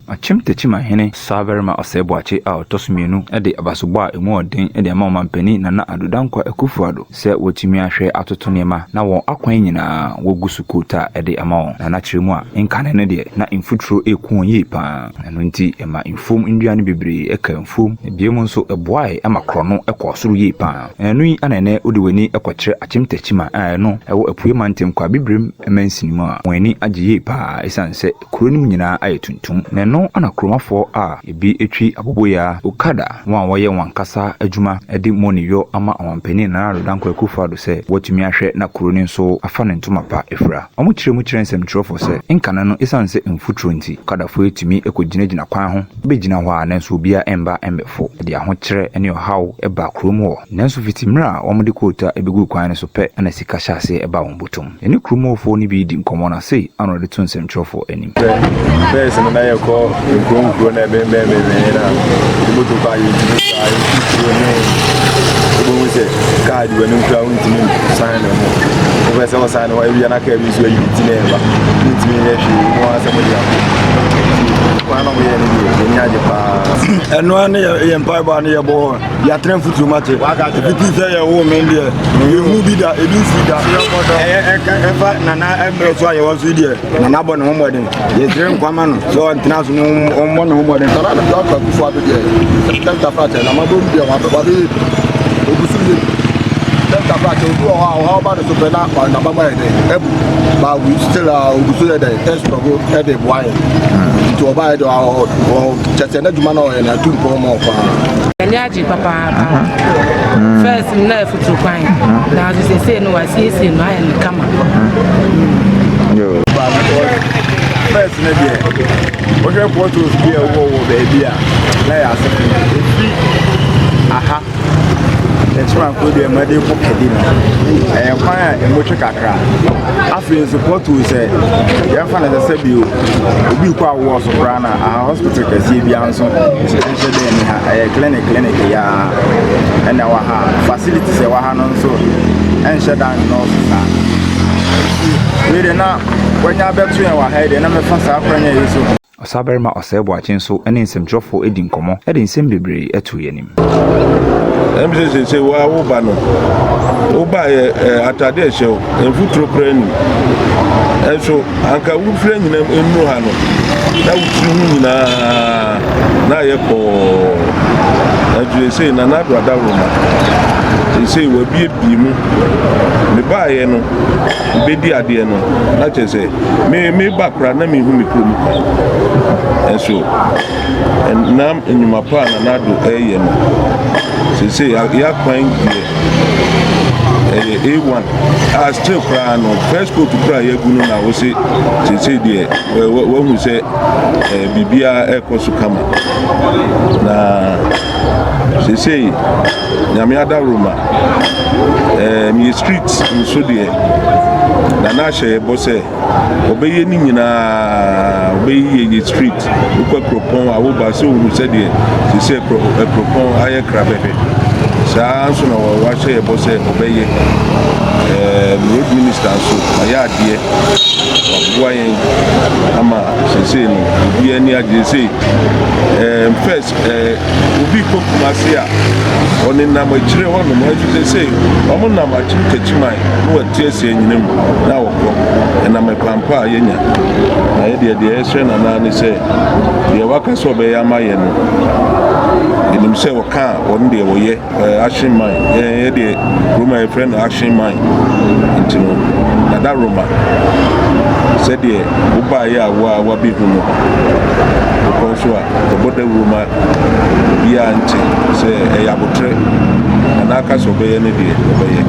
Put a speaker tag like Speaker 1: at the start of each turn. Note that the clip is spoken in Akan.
Speaker 1: Akyem Tekyima hene Sabarima Osei Boakye a ɔtɔ so mmienu de abasobɔ a emu yɛ den de ama ɔmanpanin Nana Addo Dankwa Akufo-Addo. sɛ wɔatumi ahwɛ atoto nneɛma na wɔn akwan nyinaa wɔgu so quote a ɛde ama wɔn, na na kyerɛ mu a nkane no deɛ na mfuturo reku wɔn yie pa ara, ɛno nti ɛma mfuom nnua no bebree kaa mfuom, na bio nso ɛboaeɛ ma korɔno kɔɔ soro yie pa ara, na ɛno yi na ɛnnɛ wode w'ani kɔkyerɛ Akyem Takyima a ɛno ɛwɔ Apueɛ Mantam Kwaabibirem mansini mu a wɔn ani agye yie pa ara ɛsiane sɛ Kuro no mu nyinaa ayɛ tuntum, na ɛno na kuromafoɔ a ebi twi aboboyaa, okada, wɔn a wɔyɛ wɔn ankasa adwuma de moni yɔ ama Ɔmanpanin Nana Addo Dankwa Akufo-Addo sɛ wɔatumi ahwɛ na kuro no nso afa ne ntoma pa afira. Wɔkyerɛ mu kyerɛ nsɛmtwerɛfoɔ sɛ, nkane no, ɛsiane sɛ mfuturo nti, okadafoɔ yi tumi kɔgyinagyina kwan ho bɛgyina hɔ a nanso obiara mma mmɛfo. Ɛde ahokyerɛ ne ɔhaw ba kurom hɔ. Nanso fiti mmerɛ a wɔde koota bɛguu kwan no so pɛ na sika hyɛ aseɛ ba wɔn bɔtɔ mu. Yɛne kurom hɔfoɔ no bi redi nkɔmmɔ na sei ara na ɔde to nsɛmtwerɛfoɔ anim. Sɛ bɛs no na yɛkɔ
Speaker 2: nkuro nkuro na ɛbɛnbɛn bɛnbɛn na moto kɔ a yɛntumi saa yɛtu tuo ne wobɛhu sɛ kaa di w'anim koraa wontumi san ne ho wopɛ sɛ wosan ne ho awia na kaa bi nso ayi ti na ɛba wontumi yɛ hwee mu ara sɛ mode ako kwan na moyɛ no deɛ yɛni agye paa ɛno a ne yɛ mpaebɔ a ne yɛbɔ yɛatena mfuturo mu ate ɛfiti sɛ yɛwoo me deɛ yɛhu bi da ɛbi nsi da ɛfa nana mmerɛ so a yɛwɔ so deɛ nana bɔ ne ho mmɔden yɛsrɛ nkwa ma no sɛ ɔntena so no ɔmmɔ ne ho mmɔden sana ne dɔkta kufoɔ ado deɛ dɔkta prakyɛ na mabɔ mu deɛ wabɛbɔde ɔbusu yɛ dɔkta prakyɛ obi wɔ hɔ a ɔha ɔba ne so pɛ na naba bɔ yɛ dɛ ɛbu ba still a ɔbusu yɛ dɛ ɛsrɔgo ɛde boa yɛ nti ɔba yɛ dɛ kyɛkyɛ n'adwuma na ɔyɛ na atu mpɔ ma ɔpaa M'ani agye
Speaker 3: papaapa. First no na ɛfutuo kwan, nanso seesei no wɔasiesie no ayɛ
Speaker 2: no kama. First no deɛ, wohwɛ photos bi a ɛwɔ wɔ baabi a na yɛ asɛm ɛfiri aha ɛkyemanko deɛ ɛma de kɔ kadi no ɛyɛ kwan a ɛmotwe kakra afei nso pɔtoo sɛ yɛmfa no sɛ sɛ bio obi kɔ awoɔ so koraa na Hospital kɛseɛ biara nso nhyɛ dɛ ni ha ɛyɛ clinic clinic ya ɛna ɛwɔ ha facilities ɛwɔ ha no nso ɛnhyɛ da nnɔɔso saa wei de na wanya bɛto yɛn wɔ ha deɛ na mɛfa saa kwanya yi so. Ɔsabarima Osei
Speaker 1: Boakye nso ne nsɛmtwerɛfoɔ di nkɔmmɔ de nsɛm bebree to yɛn anim. Ɛm
Speaker 4: sɛ seesei wo ara wo ba no, wo ba yɛ eh, atade a ɛhyɛ wo, mfuturo koraa nnim. Ɛnso anka wofira nyinam nnuru ha no, na wo tiri ho nyinaa na ayɛ kɔɔ. Ɛnso seesei na n'ado adaworo ma. Seesei wabiebie mu. Mebaeɛ no, bɛdi adeɛ no, na kyerɛ sɛ me meba koraa na mehu me kurom kwan. Ɛnso nam nnwuma pa a Nana Addo reyɛ no, seesei yɛ akwan deɛ ɛyɛ A1 a still koraa no first coat koraa yɛagu no na wose seesei deɛ wahu sɛ biribiara ɛrekɔ so kama na seesei nyame adaworo ma meyɛ street nso deɛ Nana ahyɛ yɛbɔ sɛ Wɔbɛyɛ ne nyinaa, wɔbɛyeyɛ yɛ street. Wokɔ kuropɔn a woba sɛ ohun sɛdeɛ sisi kuropɔn ayɛ krabɛbɛ. Saa nso na wɔahyɛ yɛ bɔ sɛ wɔbɛyɛ. Ɛɛ road minister nso ayɛ adeɛ, waboa yɛn ama sese no obi ani agye sɛ ɛɛ first. Sɛ obi kɔ Kumasi a, ɔnenam akyire hɔnom, nanso seesei wɔnam Akyem Kakyiman ne Wati Asi anyina mu na wɔkɔ. Ɛnam ɛkwan pa a yɛanya. Na yɛn deɛ, deɛ yɛsrɛ no ara ne sɛ, deɛ waka sɛ ɔbɛyɛ ama yɛn no, yɛnim sɛ ɔka a, ɔno deɛ ɔyɛ. Eh, action man. Eh, eh deɛ Roma yɛ frɛ no action man. Nti no, dada Roma. Sɛdeɛ wobaeɛ a wo a wabɛhu no. Wokɔ nso a, ɛbɔ dawuro ma biara nte sɛ ɛyɛ abotrɛ. Anaa ka sɛ ɔbɛyɛ no deɛ ɔbɛyɛ.